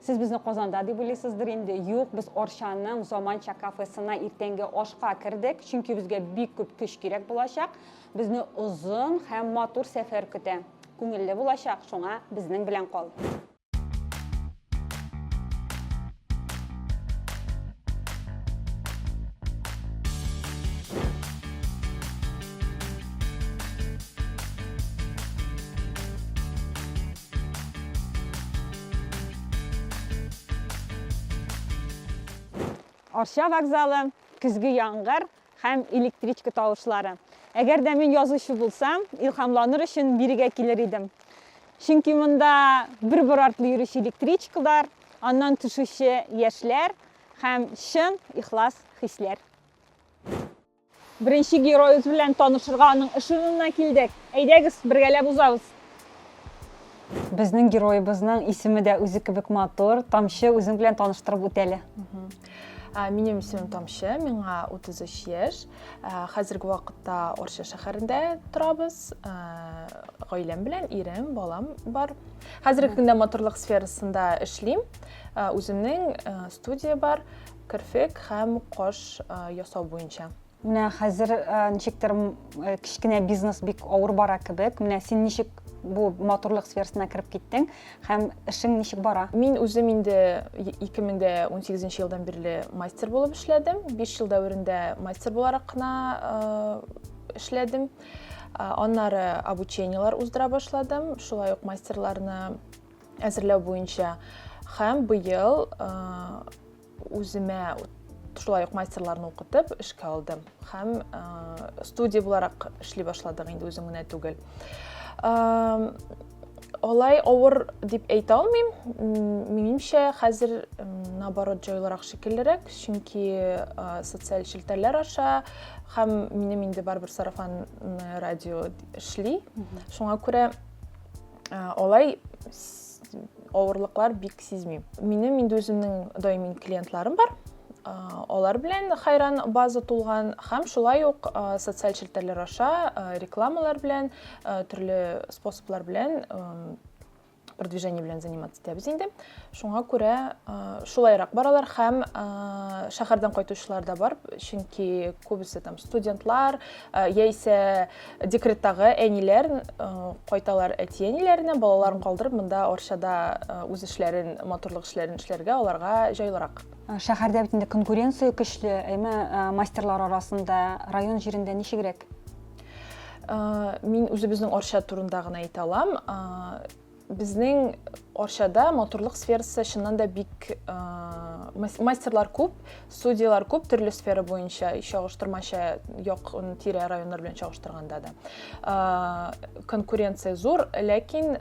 Сез безне Казанда дип уйлыйсыздыр инде. Юк, без Арчаның заманча кафесына иртәнге ашка кердек, чөнки безгә бик күп көч кирәк булачак. Безне озын һәм матур сәфәр көтә. Күңелле булачак, шуңа безнең белән кал. Арча вокзалы, көзге яңгыр һәм электричка тавышлары. Әгәр дә мин язучы булсам, илһамланыр өчен бирегә килер идем. Чөнки монда бер бер артлы йөрүче электричкалар, аннан төшүче яшьләр һәм чын ихлас хисләр. Беренче героебыз белән танышырга аның эш урынына килдек. Әйдәгез, бергәләп узабыз. Безнең героебызның исеме дә үзе кебек матур. Тамчы, үзең белән таныштырып үт әле. Минем исемем Тамчы, миңа 33 яшь. Хәзерге вакытта Орча шәһәрендә торабыз. Гаиләм белән, ирем, балам бар. Хәзерге көндә матурлык сферасында эшлим. Үземнең студия бар. керфек һәм каш ясау буенча. Менә хәзер ничектер кечкенә бизнес бик авыр бара кебек. Менә син ничек бу матурлык сферасына кереп киттең һәм эшең ничек бара? Мин үзем инде 2018 елдан бирле мастер булып эшләдем. 5 ел дәверендә мастер буларак кына эшләдем. Аннары обучениелар уздыра башладым. Шулай ук мастерларны әзерләү буенча һәм быел үземә шулай ук мастерларны укытып эшкә алдым һәм студия буларак эшли башладык инде үзем генә түгел алай авыр дип әйтә алмыйм минемчә хәзер наоборот җайлырак шикеллерәк чөнки социаль челтәрләр аша һәм минем инде барыбер сарафан радио эшли шуңа күрә Алай авырлыклар бик сизмим. Минем инде үземнең даими клиентларым бар. Алар белән хайран база тулган һәм шулай ук социаль челтәрләр аша рекламалар белән, төрле способлар белән продвижение белән заниматься итәбез инде. Шуңа күрә шулайрак баралар һәм шәһәрдән кайтучылар да бар, чөнки күбесе там студентлар, яисә Декреттагы әниләр кайталар әти-әниләренә, балаларын калдырып монда Арчада үз эшләрен, матурлык эшләрен эшләргә аларга җайлырак. Шәһәрдә бит инде конкуренция көчле, әйме, мастерлар арасында, район җирендә ничегрәк? Мин үзебезнең Арча турында гына әйтә алам. Безнең Арчада матурлык сферасы чыннан да бик мастерлар күп, судьялар күп төрле сфера буенча, чагыштырмача як тирә районнар белән чагыштырганда да. Конкуренция зур, ләкин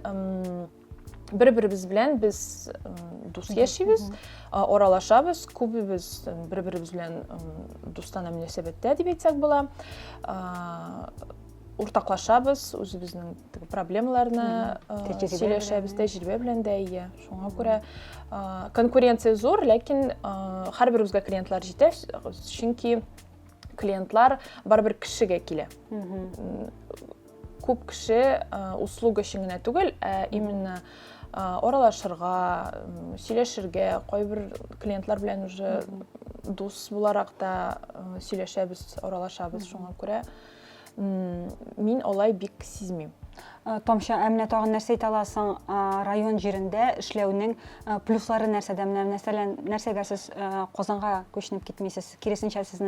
бер беребез белән без дус яшибез аралашабыз күбебез бер беребез белән дустана мөнәсәбәттә дип әйтсәк була уртаклашабыз үзебезнең теге проблемаларны сөйләшәбез тәҗрибә белән дә ия шуңа күрә конкуренция зур ләкин һәрберебезгә клиентлар җитә чөнки клиентлар барыбер кешегә килә күп кеше услуга өчен генә түгел ә именно аралашырга сөйләшергә кайбер клиентлар белән уже дус буларак та сөйләшәбез аралашабыз шуңа күрә Мин алай бик сизмим. Э, томча ә менә тагын нәрсә әйтә аласың э, район җирендә эшләүнең э, плюслары нәрсәдә менә мәсәлән нәрсәгә сез казанга күченеп китмисез киресенчә сез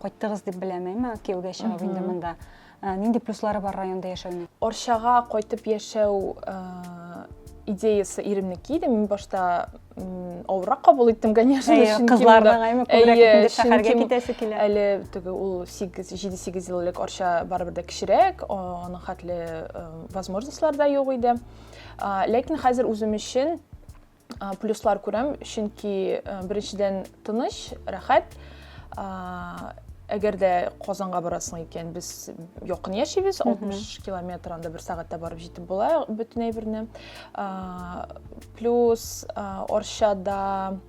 кайттыгыз дип беләм әмма кияүгә чыгып инде монда нинди плюслары бар районда яшәүнең арчага кайтып яшәү идеясы иремнеке иде мин башта авыррак кабул иттем конечно кызларның күбрәк шәһәргә китәсе килә әле теге ул сигез җиде сигез ел элек арча барыбер дә кечерәк аның хәтле возможностьлар да юк иде ләкин хәзер үзем өчен плюслар күрәм чөнки беренчедән тыныч рәхәт әгәр дә казанга барасың икән без якын яшибез алтмыш километр анда бер сәгатьтә барып җитеп була бөтен әйберне Плюс Оршада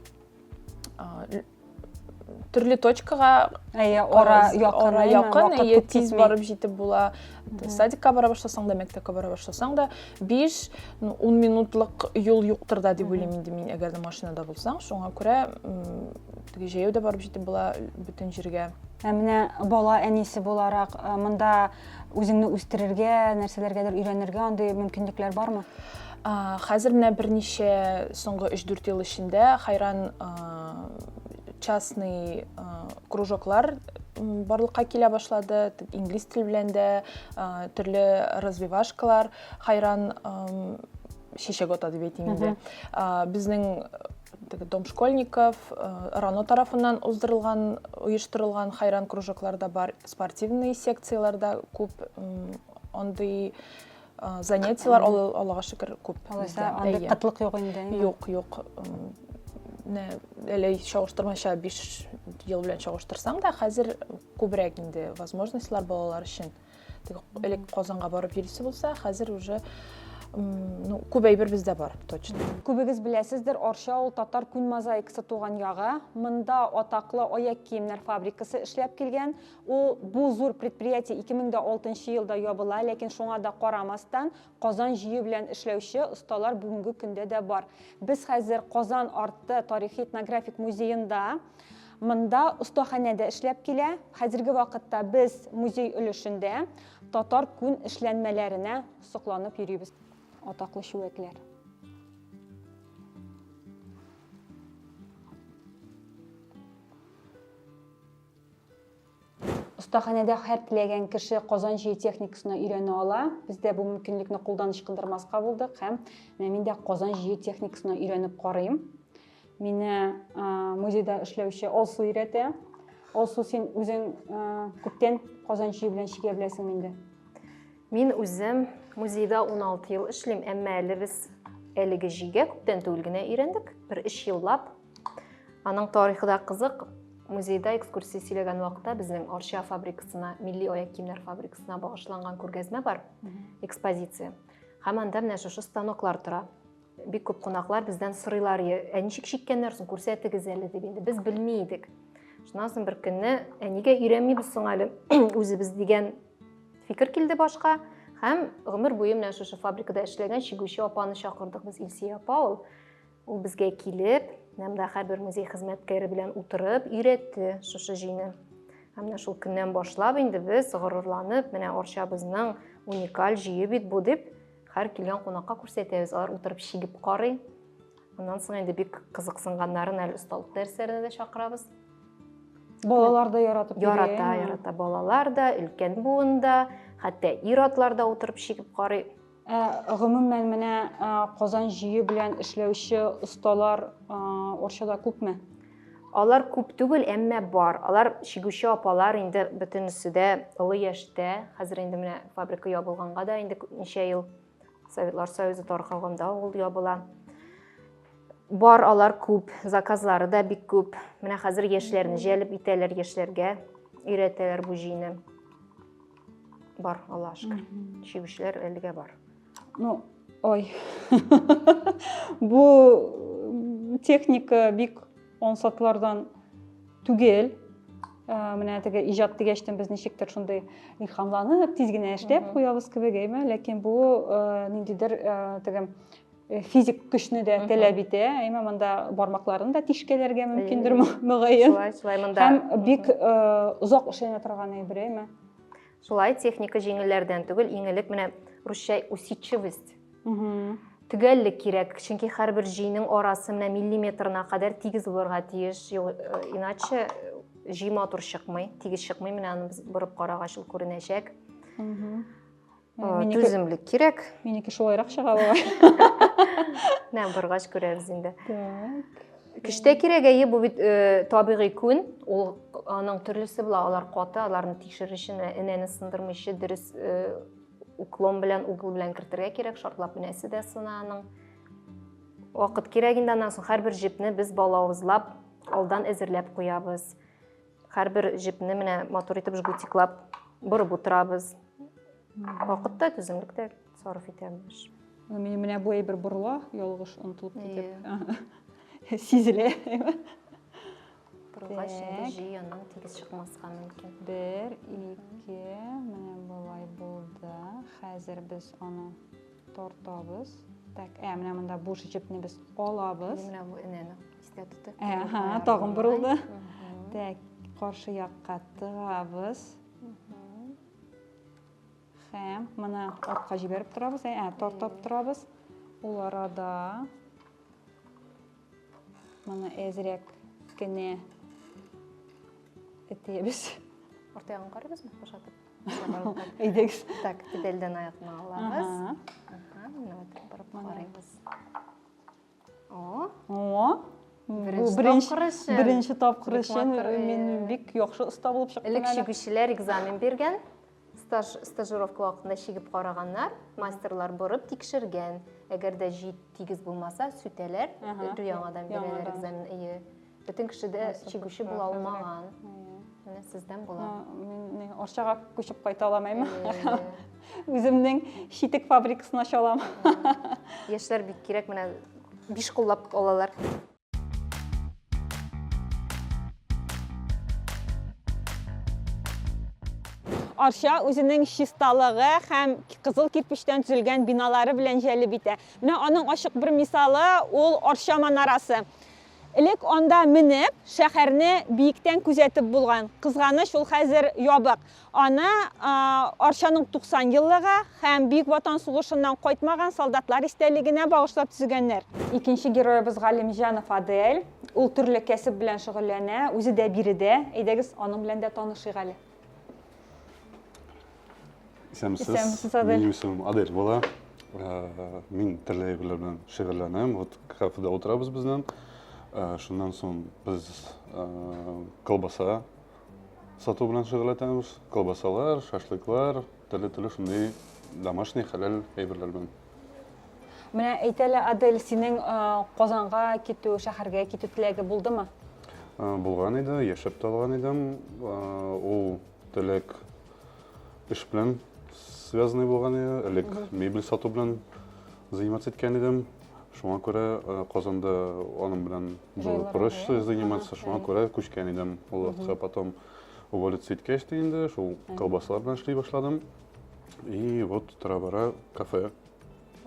төрле точкага әйе ара якын ара якын әйе тиз барып җитеп була садикка бара башласаң да мәктәпкә бара башласаң да биш ун минутлык юл юктыр да дип уйлыйм инде мин әгәр дә машинада булсаң шуңа күрә теге җәяү дә барып җитеп була бөтен җиргә ә менә бала әнисе буларак монда үзеңне үстерергә нәрсәләргәдер өйрәнергә андый мөмкинлекләр бармы Хәзер менә берничә соңгы 3-4 ел эчендә хайран частный кружоклар барлыкка килә башлады. Инглиз тел белән дә төрле развивашкалар, хайран чәчәк ата дип әйтим инде. Безнең Дом школьников, Рано тарафыннан уздырылган, оештырылган хайран кружоклар да бар, спортивный секцияләр дә күп, андый занятиялар аллага шөкер күп алайса андый кытлык юк инде юк юк менә әле чагыштырмача биш ел белән чагыштырсаң да хәзер күбрәк инде возможностьлар балалар өчен элек казанга барып йөрисе булса хәзер уже ну күп әйбер бездә бар точно күбегез беләсездер арча ул татар күн мозаикасы туган ягы монда атаклы аяк киемнәр фабрикасы эшләп килгән Ул, бу зур предприятие 2006 елда ябыла, ләкин шуңа да карамастан, Казан җөе белән эшләүче осталар бүгенге көндә дә бар. Без хәзер Казан арты тарихи-этнографик музеенда. Монда остаханә дә эшләп килә. Хәзерге вакытта без музей өлешендә татар күн эшләнмәләренә сокланып йөрибез. Атаклы чүәкләр. Остаханәдә һәр теләгән кеше казан җөе техникасына өйрәнә ала. Без дә бу мөмкинлекне кулдан ычкындырмаска булдык һәм менә мин дә казан җөе техникасына өйрәнеп карыйм. Мине музейда эшләүче Алсу өйрәтә. Алсу, син үзең күптән казан җөе белән чигә беләсең инде. Мин үзем музейда 16 ел эшлим, әмма әле без әлеге җигә күптән түгел генә өйрәндек. Бер 3 еллап Аның тарихы да кызык. Музейда экскурсия сөйләгән вакытта безнең Арча фабрикасына, милли аяк киемнәр фабрикасына багышланган күргәзмә бар, экспозиция. Һәм анда менә шушы станоклар тора. Бик күп кунаклар бездән сорыйлар, ә ничек чиккәннәр соң, күрсәтегез әле дип инде. Без белми идек. Шуннан соң бер көнне, ә нигә өйрәнмибез соң әле үзебез дигән фикер килде башка. Һәм гомер буе менә шушы фабрикада эшләгән чигүче апаны чакырдык без, Илсия апа ул. Ул безгә килеп, Нәмдәхә бер музей хезмәткәре белән утырып, өйрәтте шушы җыйны. Һәм менә шул көннән башлап инде без горурланып, менә Арчабызның уникаль җыйы бит бу дип, һәр килгән кунакка күрсәтәбез. Алар утырып чигеп карый. Аннан соң инде бик кызыксынганнарын әле осталык дәресләренә дә чакырабыз. Балалар да яратып Ярата, ярата балалар да, өлкән буын да, хәтта ир-атлар да утырып чигеп карый. Ә гомумән менә Казан җөе белән эшләүче осталар Орчада күпме? Алар күп түгел, әмма бар. Алар чигүче апалар инде бөтенесе дә олы яшьтә. Хәзер инде менә фабрика ябылганга да инде ничә ел Советлар Союзы таркалганда ул ябыла. Бар алар күп, заказлары да бик күп. Менә хәзер яшьләрне җәлеп итәләр, яшьләргә өйрәтәләр бу җыйны. Бар, Аллаһ шөкер. Чебешләр әлегә бар. Ну, ой. Бу техника бик ансатлардан түгел. Ә, менә теге иҗат дигәчтен без ничектер шундый илһамланып, тиз генә эшләп куябыз кебек, әйме? Ләкин бу ә, ниндидер ә, теге Э, физик көчне дә таләп итә әйме монда бармакларын да тишкәләргә мөмкиндер мөгаен шулай шулай монда һәм бик э, озак эшләнә торган әйбер әйме шулай техника җиңелләрдән түгел иң элек менә русча усидчивость төгәллек кирәк чөнки һәрбер җөйнең арасы менә миллиметрына кадәр тигез булырга тиеш э, иначе җөй матур чыкмый тигез чыкмый менә аны без борып карагач ул күренәчәк түземлек кирәк минеке шулайрак чыга бугай менә баргач күрәбез инде так кешедә кирәк әйе бу бит э, табигый күн ул аның төрлесе була алар каты аларны тикшерүче энәне сындырмыйчы дөрес э, уклон белән угол белән кертергә кирәк шартлап энәсе дә сына аның вакыт кирәк инде аннан соң һәрбер җепне без балавызлап алдан әзерләп куябыз Һәрбер җепне менә матур итеп жгутиклап борып утырабыз. Вакыт та, түземлек тә сарыф итәбез. Мин менә бу әйбер борыла, ялгыш онтылып китеп. Сизелә. Борылгач инде җи яннан тигез чыкмаска мөмкин. Бер, ике, менә болай булды. Хәзер без аны Тартабыз. Так, ә менә монда буш җепне без алабыз. Менә бу энәне истә тотып. Әһә, тагын борылды. Так, каршы якка тыгабыз. Һәм моны артка җибәреп торабыз, ә тартып торабыз. Ул арада моны әзрәк кенә итәбез. Артыгын карыйбызмы, бушатып? Әйдәгез. Так, тибелдән аякны алабыз. Менә вот барып карыйбыз. О. О. Беренче тапкыр өчен мин бик яхшы оста булып чыктым. Элек чигүчеләр экзамен биргән, стаж стажировка вакытында чигеп караганнар, мастерлар борып тикшергән. Әгәр дә җит тигез булмаса, сүтәләр, яңадан бирәләр экзамен. Әйе. Бөтен кеше дә чигүче була алмаган. Менә сездән була. Мин Арчага күчеп кайта алмыйм. Үземнең шитек фабрикасын ача алам. Яшьләр бик кирәк, менә биш куллап алалар. Арча үзенең чисталыгы һәм кызыл кирпечтән төзелгән биналары белән җәлеп итә. Менә аның ачык бер мисалы ул Арча манарасы. Элек анда менеп, шәһәрне биектән күзәтеп булган. Кызганыч, ул хәзер ябык. Аны Арчаның 90 еллыгы һәм Бөек Ватан сугышыннан кайтмаган солдатлар истәлегенә багышлап төзегәннәр. Икенче героебыз Галимҗанов Адель. Ул төрле кәсеп белән шөгыльләнә, үзе дә биредә. Әйдәгез, аның белән дә танышыйк әле. Исәмсез. Исәмсез, Адель. Минем исемем Адель була. Э, Мин төрле әйберләр белән шөгыльләнәм. Вот кафеда утырабыз безнең. Э, Шуннан соң без э, колбаса сату белән шөгыльләнәбез. Колбасалар, шашлыклар, төрле-төрле шундый домашний хәләл әйберләр белән. Менә әйт әле, Адель, синең Казанга китү, шәһәргә китү теләге булдымы? Булган иде, яшәп тә алган идем. Ул теләк эш белән связанный булган иде. Элек мебель сату белән заниматься иткән идем. Шуңа күрә Казанда аның белән было проще заниматься, шуңа күрә күчкән идем. Ул вакытта потом уволиться иткәч тә инде шул колбасалар белән эшли башладым. И вот тора-бара кафе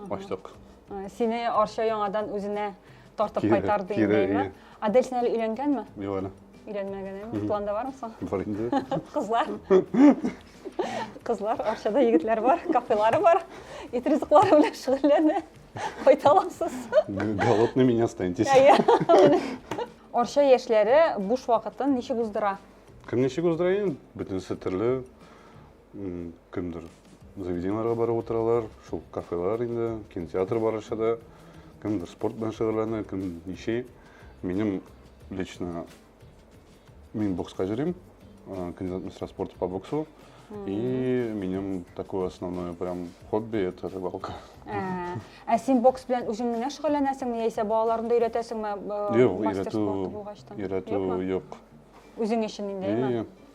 ачтык. Э, сине Арча яңадан үзенә тартып Кире, кайтарды кире, инде, әйе. Адель син әле өйләнгәнме? Юк әле. Өйләнмәгән, әйме? Планда бармы соң? Бар инде. Кызлар. Кызлар, Арчада егетләр бар, кафелары бар. Ит ризыклары белән шөгыльләнә. Кайта аласыз. Г- Голодными не останетесь. Әйе. Арча яшьләре буш вакытын ничек уздыра? Кем ничек уздыра инде? Бөтенесе төрле. кемдер заведениеларга барып утыралар, шул кафелар инде, кинотеатр барышы да, кемдер спорт белән шөгыльләнә, кем ничи. Минем лично мин бокска йөрим, кандидат мастера спорта по боксу. И минем такое основное прям хобби это рыбалка. Ә син бокс белән үзең генә шөгыльләнәсеңме яисә балаларыңды өйрәтәсеңме? Юк, өйрәтү, өйрәтү юк. Үзең өчен инде, әйе.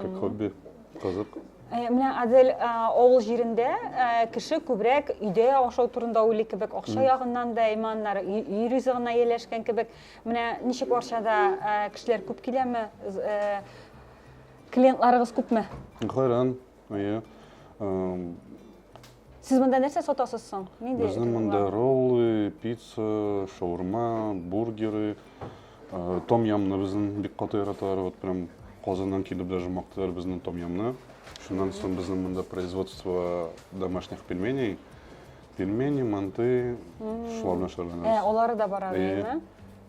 Как хобби. Кызык. Э, менә Адель э, авыл җирендә э, кеше күбрәк өйдә ашау турында уйлый кебек, акча ягыннан да иманнары өй ризыгына ияләшкән кебек. Менә ничек Арчада кешеләр күп киләме? Клиентларыгыз күпме? Кайран. Әйе. Сез монда нәрсә сатасыз соң? Нинди? Безнең монда роллы, пицца, шаурма, бургеры, том ямны безнең бик каты яраталар. Вот прям Казаннан килеп даже мактыйлар безнең том ямны. Шуннан соң безнең монда производство домашних пельменей. Пельмени, манты, шуларны шарланабыз. Э, олары да бара, әйеме?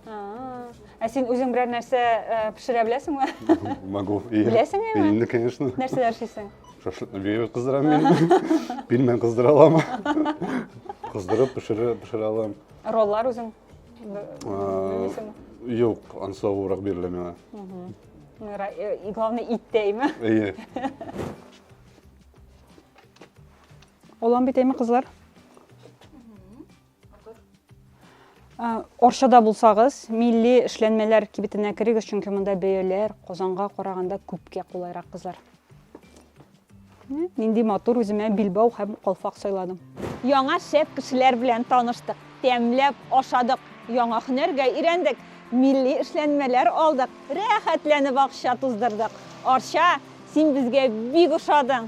Ә син үзең берәр нәрсә э, пешерә беләсеңме? Могу. Беләсең инде? Инде, конечно. Нәрсәләр эшлисең? Шашлыкны бия кыздырам мин. Пилмән кыздыра алам. Кыздырып пешерә пешерә алам. Роллар үзең беләсеңме? Юк, ансавурак бирелә миңа. Э, и главное, ит тәйме. Әйе. Олан бит әйме, кызлар? Оршада булсагыз, милли эшләнмәләр кибетенә керегез, чөнки монда бәяләр Казанга караганда күпкә кулайрак кызлар. Нинди матур үземә билбау һәм калфак сайладым. Яңа шәп кешеләр белән таныштык, тәмләп ашадык, яңа һөнәргә өйрәндек, милли эшләнмәләр алдык, рәхәтләнеп акча туздырдык. Арча, син безгә бик ошадың.